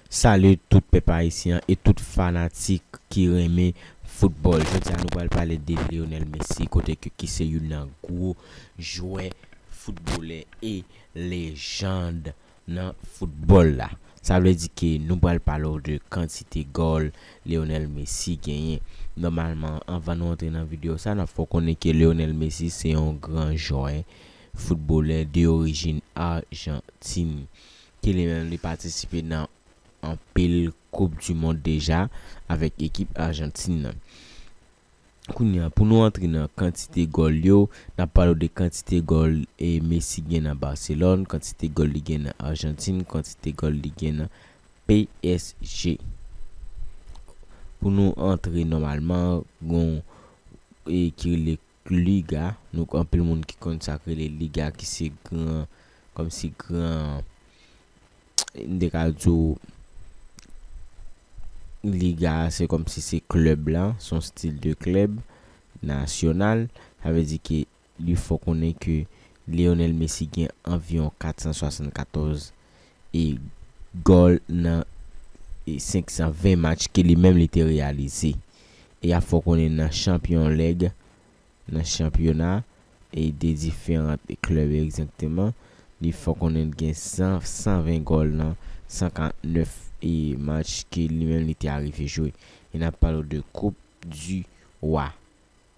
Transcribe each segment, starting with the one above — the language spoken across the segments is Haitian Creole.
Salut tout pèp ayisyen an e tout fanatik ki renmen football jodi a nou pral pale de Lionel Messi kote ke ki se youn nan gwo jwè footballè e lejand nan football la sa vle di ke nou pral pale w de kantite gòl Lionel Messi genyen nòmalman anvan nou antre nan video sa nap fè w konnen ke Lionel Messi se yon gran jwè footballè de orijin Argentine Ki li menm li patisipe nan anpil koup du mond deja avèk ekip Arjantin nan. Kounye a pou nou antre nan kantite gòl yo, n ap pale w de kantite gòl Messi gen nan Barcelone, kantite gòl li gen nan Arjantin, kantite gòl li gen nan psg. Pou nou antre nòmalman gon ki rele Liga, nou k anpil moun ki konn sak rele liga ki se gran kòmsi gran m te ka di w liga a se kòmsi se klèb la, s on stil de klèb nasyonal, sa vle di ke li fè w konnen ke Lionel Messi gen anviwon 474 gòl nan 520 match ke li menm li te reyalize. E ap fè w konnen nan chanpyon leg nan chanpyona e de diferan klèb egzakteman, li fè w konnen li gen 120 gòl nan 149 match ke li menm li te arive jwe. E n ap pale w de koup di wa.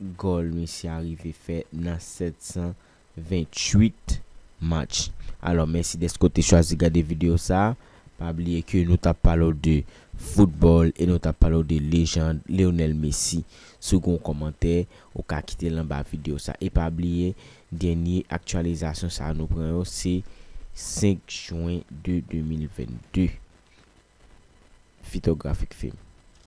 Gòl misye a rive fè nan 728 match. Alò mèsi dèske w te chwazi gade videyo sa a. Pa bliye ke nou t ap pale w de foutbòl e nou t ap pale w de lejand Lionel Messi. Si w gen yon kòmantè, ou ka kite l anba videyo sa a. E pa bliye, dènye aktyalizasyon sa a nou pran yo se 5 jwen 2 2022. Fitografik Film.